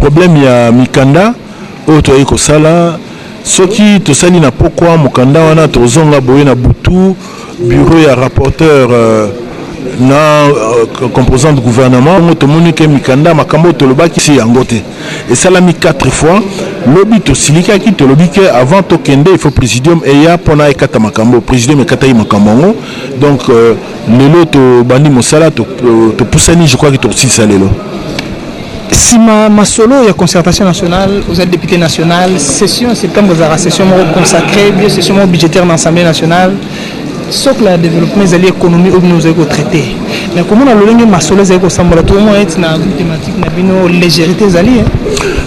Problème ya mikanda oyo toyaki kosala soki tosali na pokwa mokanda wana tozonga boye na butu bureau ya rapporteur euh, na euh, composante gouvernement yango tomoni ke mikanda makambo oyo tolobaki si yango te esalami 4 fois lobi tosilikaki tolobi ke avant tokende il faut présidium eya mpona ekata makambo présidium ekataki makambo yango donc euh, lelo tobandi mosala topusani to je crois ke tokosilisa lelo Sima masolo ya concertation nationale, ozali député national, session ya septembre ezalaka session moko consacrée, bien session moko budgétaire na Assemblée nationale. socle ya développement ezali économie oyo bino ozali kotraite mais komona lolenge masolo ezali kosambola tokomona eti na thématique na bino légérité ezali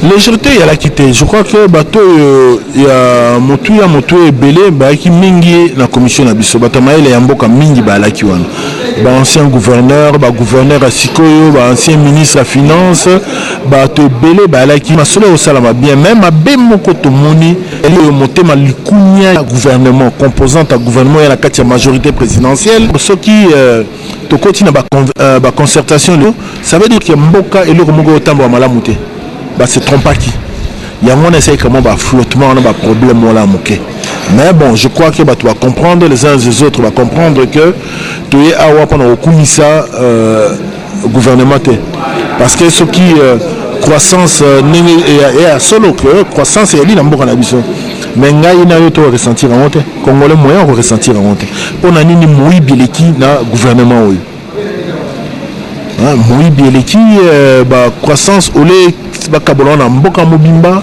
légérité eyalaki te je crois que bato oyo ya motuya motuya ebele bayaki mingi na commission na biso bato ya mayele ya mboka mingi bayalaki wana ba ancien gouverneur ba gouverneur ya sikoyo ba ancien ministre ya finance bato ebele bayalaki masolo ekosalama bien mai mabe moko tomoni eli oyo motema likunia ya gouvernement composante ya gouvernement ya na kati ya majorité présidentielle soki euh, tokoti na baconcertation euh, ba leo ça veut dire ke mboka eloko moko otambola malamu te Ba se trompaki. Yango wana esaki kama ba flottement wana ba problème wana moke. Mais bon, je crois que bato ba comprendre les uns les autres ba comprendre que toye awa mpona kokumisa euh, gouvernement te. Parce que soki euh, croissance euh, ndenge euh, ya solo que croissance eyali na mboka na biso mais ngai na yo to ressentir yango te congolais moyen ko ressentir yango te mpo na nini moyibi eleki na gouvernement oyo Ah, moyibi eleki euh, ba croissance ole bakabola na mboka mobimba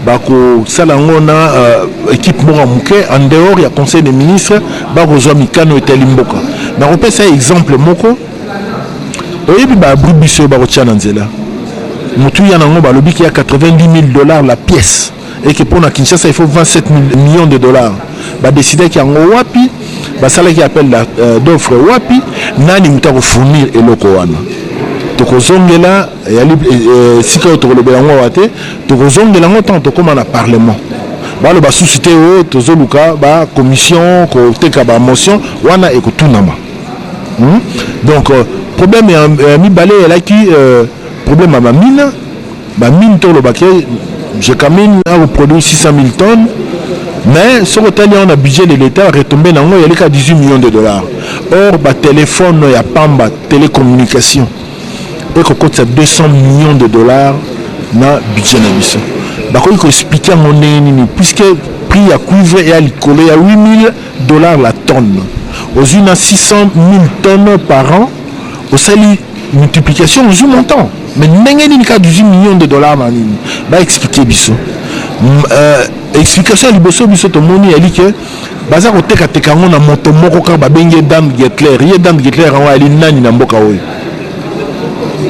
bakosala yango na euh, ekipe moko ya moke en dehors ya conseil des ministres bakozwa mikano etali mboka nakopesa exemple moko oyebi baabri biso oyo bakotya na nzela motuya na yango balobi ki ya 90 000 dollars la pièce et que pona Kinshasa il faut 27 millions de dollars ba décidaki yango wapi basalaki appel euh, d'offre wapi nani moto akofournir eloko wana tokozongela yali euh, esika oyo tokolobela yango awa te tokozongela yango ntango tokóma na parlement balo basusu te oyo oh, tozoluka bacommission koteka bamotion wana ekotunama hmm? donc euh, problème ya mibale eyalaki problème ya bamina Ba mine to loba ke Gecamine a ko produire 600.000 tonnes mais soki otali yango na budget de l'etat retombe na yango eyali kaka 18 millions de dollars or ba telephone ya pamba telecommunication eko kotisa 200 millions de dollars na budget na biso bakoki ko expliquer yango ndenge nini puisque prix ya cuivre eya likolo ya 8000 dollars la tonne ozwi na 600.000 tonnes par an osali multiplication ozwi montant mais ndenge nini kaka 18 million de dollar na nini baexplike biso euh, explication ya liboso biso tomoni yali ke baza kotekateka yango na moto moko kaka babengi ye dame getler ye dame getler yango ayali nani na mboka oyo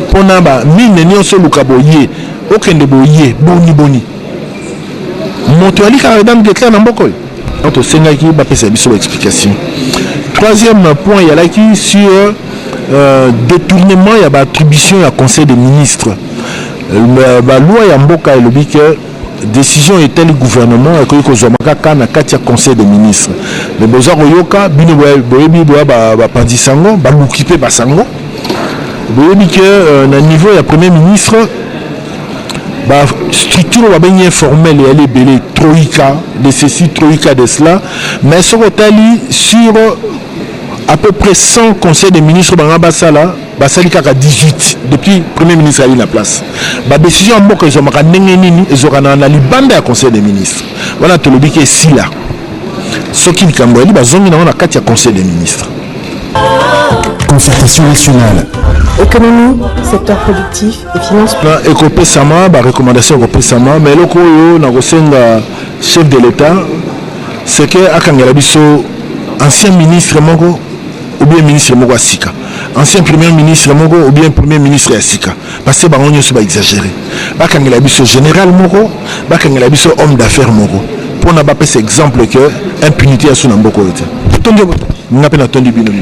mpo na bamine nyonso oluka boye okende boye boni boni moto yali kaka dame getler na mboka oyo Donc tosengaki bapesa biso ba explication. Troisième point yalaki sur euh, détournement ya ba attribution ya conseil des ministres. Euh, ba loi ya mboka elobi que décision etali gouvernement ekoki kozwama kaka na kati ya conseil des ministres mais boza koyoka bino boyebi boya bapanzisa yango baluki mpe basango boyebi ke euh, na niveau ya premier ministre ba structure babengi informel eyali ebele troika de ceci troika de cela mais soki otali sur à peu près 100 conseil des ministres banga basala basali kaka 18 depuis premier ministre ali na place badécision ya mboka ezwamaka ndenge nini ezwakanaka na libanda ya conseil des ministres wana tolobi ke esila soki likambo yali bazongi nango na kati ya conseil des ministres concertation nationale économie secteur productif ekopesama ba recommandation ekopesama ma eloko oyo nakosenga chef de l'etat seke akangela biso ancien ministre moko oubien ministre moko ya sika ancien premier ministre moko oubien premier ministre ya sika parce que bango nyonso baexagere bakangela biso général moko bakangela biso homme d'affaires moko mpona bapesa exemple que impunité ya so na mboka oyo te nga mpe natondi bino mingi